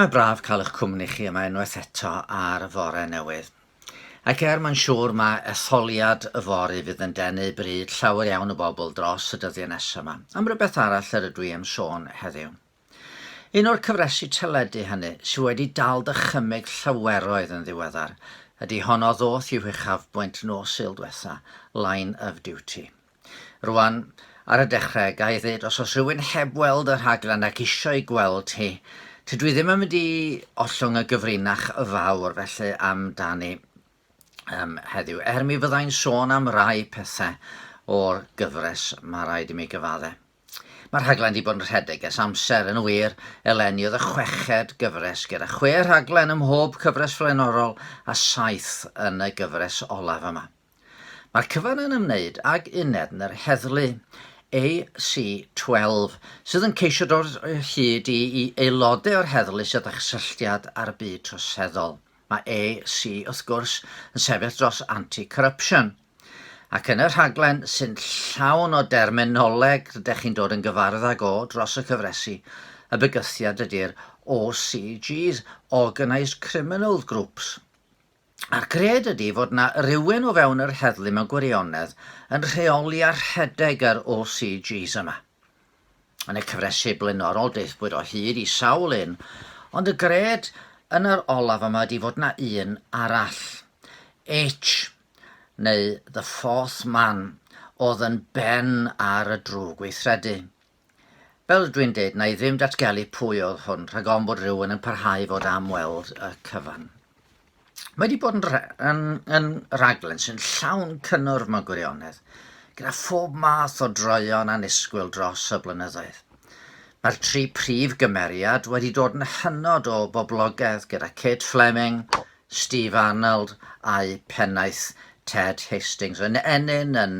Mae braf cael eich cwmni chi yma unwaith eto ar fore newydd. Ac er mae'n siŵr mae etholiad y fory fydd yn denu bryd llawer iawn o bobl dros y dyddiau nesaf yma, am rywbeth arall yr ydw i am sôn heddiw. Un o'r cyfresi teledu hynny sydd wedi dal dychymyg llaweroedd yn ddiweddar ydy honno ddoth i'w huchafbwynt nos Sul dwetha, Line of Duty. Rwan, ar y dechrau, ga i ddweud, os oes rhywun heb weld y rhaglen ac eisiau ei gweld hi, tydw i ddim yn mynd i ollwng y gyfrinach y fawr felly amdani um, heddiw, er mi fyddai'n sôn am rai pethau o'r gyfres, mae rhaid i mi gyfadde. Mae'r rhaglen wedi bod yn rhedeg ers amser yn wir, eleni oedd y chweched gyfres gyda chwe rhaglen ym mhob cyfres flaenorol a saith yn y gyfres olaf yma. Mae'r cyfan yn ymwneud ag uned yn yr heddlu AC-12 sydd yn ceisio dod o hyd i i aelodau o'r heddlu sydd â chysylltiad â'r byd troseddol. Mae AC, wrth gwrs, yn sefyll dros anti-corruption. Ac yn y rhaglen sy'n llawn o derminoleg rydych chi'n dod yn gyfarwydd ag o dros y cyfresi, y bygythiad ydy'r OCGs, Organised Criminal Groups. A'r gred ydi fod 'na rywun o fewn yr heddlu mewn gwirionedd yn rheoli a rhedeg yr OCGs yma. Yn y cyfresu blaenorol daethpwyd o hyd i sawl un, ond y gred yn yr olaf yma ydi fod 'na un arall. H, neu The Fourth Man, oedd yn ben ar y drwg weithredu. Fel dwi'n deud, na i ddim datgelu pwy oedd hwn, rhag ofn bod rhywun yn parhau i fod am weld y cyfan. Mae wedi bod yn, yn, yn raglen sy'n llawn cynnwrf mewn gwirionedd, gyda phob math o droion annisgwyl dros y blynyddoedd. Mae'r tri prif gymeriad wedi dod yn hynod o boblogaidd gyda Kate Fleming, Steve Arnold a'i phennaeth Ted Hastings yn ennyn yn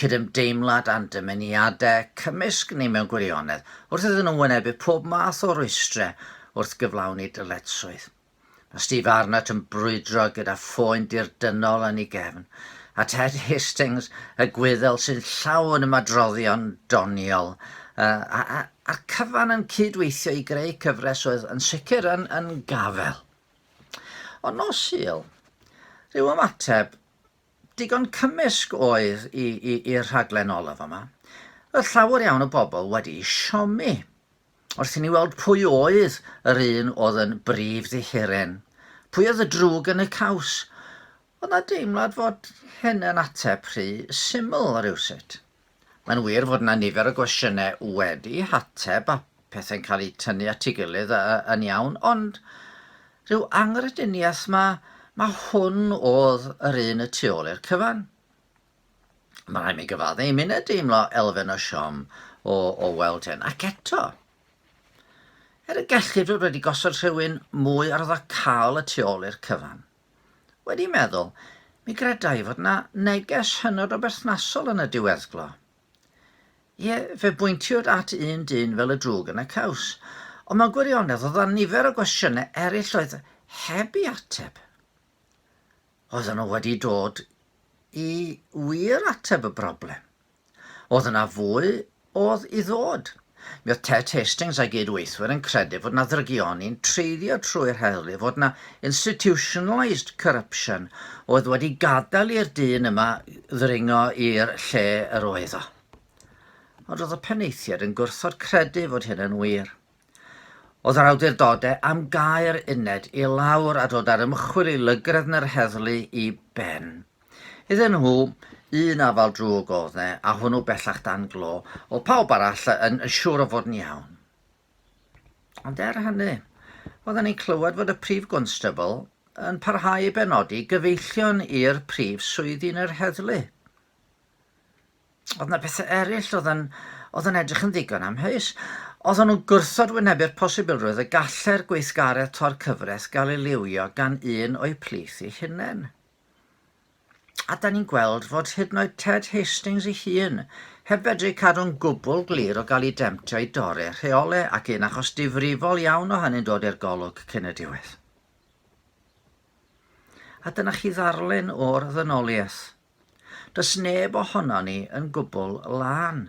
cydymdeimlad â'n dymuniadau cymysg ni mewn gwirionedd, wrth iddyn nhw wynebu pob math o rwystrau wrth gyflawni dyletswydd. Mae Steve Arnott yn brwydro gyda phoen dirdynnol yn ei gefn, a Ted Hastings, y Gwyddel sy'n llawn ymadroddion doniol, a'r cyfan yn cyd-weithio i greu cyfres oedd yn sicr yn gafael. Ond nos Sul, rhyw ymateb digon cymysg oedd i'r rhaglen olaf yma. Roedd llawer iawn o bobl wedi siomi wrth i ni weld pwy oedd yr un oedd yn brif ddihuren, pwy oedd y drwg yn y caws, Oedd 'na deimlad fod hyn yn ateb rhy syml rywsut? Mae'n wir fod 'na nifer o gwestiynau wedi hateb a pethau'n cael eu tynnu at ei gilydd yn iawn, ond rhyw anghrediniaeth ma, ma hwn oedd yr un y tu ôl i'r cyfan. Mae rhaid mi gyfadde i mined deimlo elfen o siom o, o weld hyn. Ac eto, er y gellid fod wedi gosod rhywun mwy arddocâol y tu ôl i'r cyfan, Wedi meddwl, mi greda i fod yna neges hynod o berthnasol yn y diweddglo. Ie, fe bwyntiwyd at un dyn fel y drwg yn y caws, ond mewn gwirionedd oedd yna nifer o gwestiynau eraill oedd heb i ateb. Oedden nhw wedi dod i wir ateb y broblem. Oedd yna fwy oedd i ddod. Mi oedd Ted Hastings a'i gyd-weithwyr yn credu fod yna ddrygioni'n treiddio trwy'r heddlu, fod yna institutionalised corruption oedd wedi gadael i'r dyn yma ddringo i'r lle yr oedd o. Ond roedd y penaethiaid yn gwrthod credu fod hyn yn wir. Oedd yr awdurdodau am gau'r uned i lawr a dod â'r ymchwil i lygredd na'r heddlu i ben. Iddyn nhw, un afal drwg oedd ne, a hwnnw bellach dan glo, oedd pawb arall yn siŵr o fod yn iawn. Ond er hynny, oedden ni'n clywed fod y Prif Gwnstabl yn parhau i benodi gyfeillion i'r prif swyddi yn yr heddlu. Oedd yna bethau eraill oedd yn, oedd yn edrych yn ddigon amheus. Oedden nhw'n gwrthod wynebu'r posibilrwydd y gallai'r gweithgaredd tor cyfres gael ei liwio gan un o'u plith eu hunain. A da ni'n gweld fod hyd yn oed Ted Hastings ei hun heb fedru cadw'n gwbl glir o gael ei demtio i dorri'r rheole ac un achos difrifol iawn o hynny'n dod i'r golwg cyn y diwedd. A dyna chi ddarlun o'r ddynoliaeth. Does neb ohonon ni yn gwbl lân.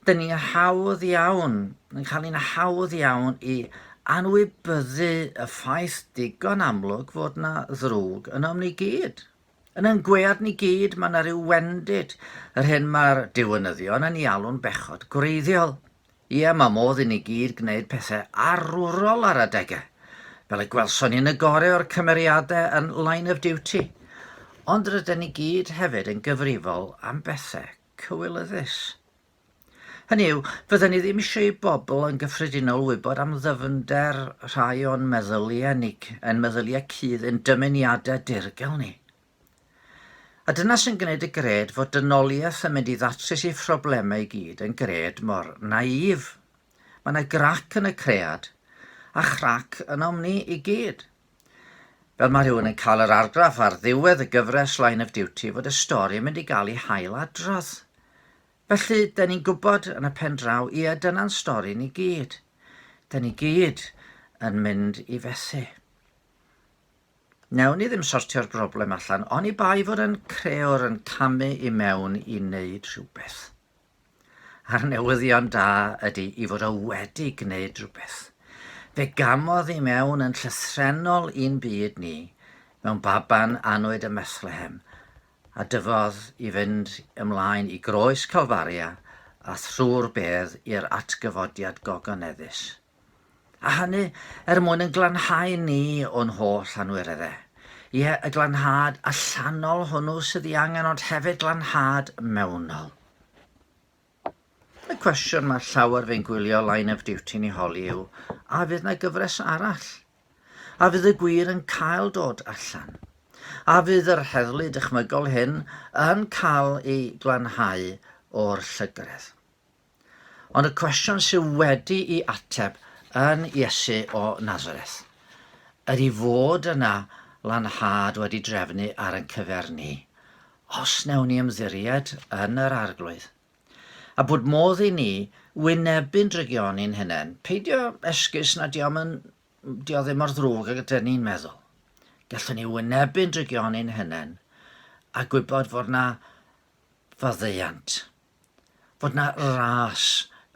Dyn ni hawdd iawn, yn cael ni'n hawdd iawn i anwybyddu y ffaith digon amlwg fod na ddrwg ynom ni gyd. Yn ein gwead ni gyd mae na ryw wendid, yr hyn mae'r diwynyddion yn ei alw'n bechod gwreiddiol. Ie, mae modd i ni gyd gwneud pethau arwrol ar adegau, fel y gwelson ni yn y gore o'r cymeriadau yn Line of Duty, ond rydyn ni gyd hefyd yn gyfrifol am bethau cywilyddus. Hynny yw, fydden ni ddim eisiau i bobl yn gyffredinol wybod am ddyfnder rhai o'n meddyliau ni, ein meddyliau cudd, ein dymuniadau dirgel ni. A dyna sy'n gwneud y gred fod dynoliaeth yn mynd i ddatrys ei phroblemau i gyd yn gred mor naïf. Mae yna grac yn y cread, a chrac ynom ni i gyd. Fel mae rhywun yn cael yr argraff ar ddiwedd y gyfres Line of Duty fod y stori yn mynd i gael ei hail adrodd. Felly, da ni'n gwybod yn y pen draw, ie, dyna'n stori ni gyd. Da ni gyd yn mynd i fethu. Newn ni ddim sortio'r broblem allan oni bai fod ein creor yn camu i mewn i wneud rhywbeth. A'r newyddion da ydy i fod o wedi gwneud rhywbeth. Fe gamodd i mewn yn llythrennol i'n byd ni mewn baban annwyd ym Methlehem, a dyfodd i fynd ymlaen i groes Calfaria a thrwy'r bedd i'r atgyfodiad gogoneddus. A hynny er mwyn yn glanhau ni o'n holl anwirere. Ie, y glanhad allanol hwnnw sydd ei angen ond hefyd glanhad mewnol. Y cwestiwn mae llawer fe'n gwylio Line of Duty ni holi yw, a fydd na gyfres arall? A fydd y gwir yn cael dod allan? A fydd yr heddlu dychmygol hyn yn cael ei glanhau o'r llygredd? Ond y cwestiwn sydd wedi i ateb yn Iesu o Nazareth. Yr i fod yna lanhad wedi drefnu ar yn cyfer ni, os newn ni ymddiried yn yr arglwydd. A bod modd i ni wynebu'n drygion i'n hunain, peidio esgus na diom yn di o ddim mor ddrwg ag ydyn ni'n meddwl. Gallwn ni wynebu'n drygion i'n hunain a gwybod fod na faddeuant. fod 'na ras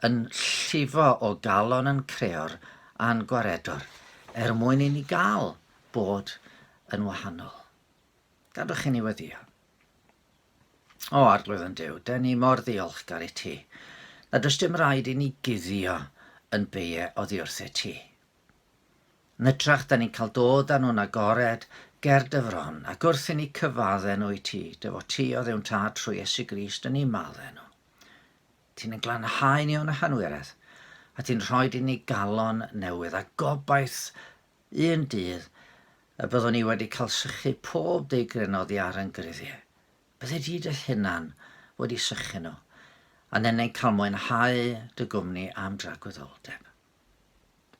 yn llifo o galon yn creor a'n gwaredwr er mwyn i ni gael bod yn wahanol. Gadwch i ni weddio. O, Arglwydd yn Dyw, da ni mor ddiolchgar i ti, na does dim rhaid i ni guddio yn beie oddi wrthyt ti. Yn hytrach, da ni'n cael dod â nhw'n agored ger dy fron, ac wrth i ni cyfadde nhw i ti, dy fod ti o Dduw'n Tad trwy Iesu Grist yn eu madde nhw. Ti'n yn glanhau ni o'n hanwiredd, a ti'n rhoi i ni galon newydd, a gobaith un dydd y byddwn ni wedi cael sychu pob deigryn oddi ar yn gruddiau. Bydde di dy hunan wedi sychu nhw, a nennau'n cael mwynhau dy gwmni am dragwyddoldeb.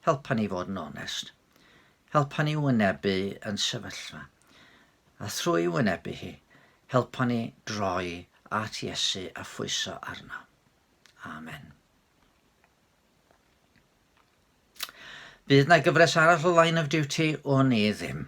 Helpa ni fod yn onest. Helpa ni wynebu yn sefyllfa. A thrwy wynebu hi, helpa ni droi at Iesu a phwyso arno. Amen. Bydd na gyfres arall o Line of Duty o'n i ddim.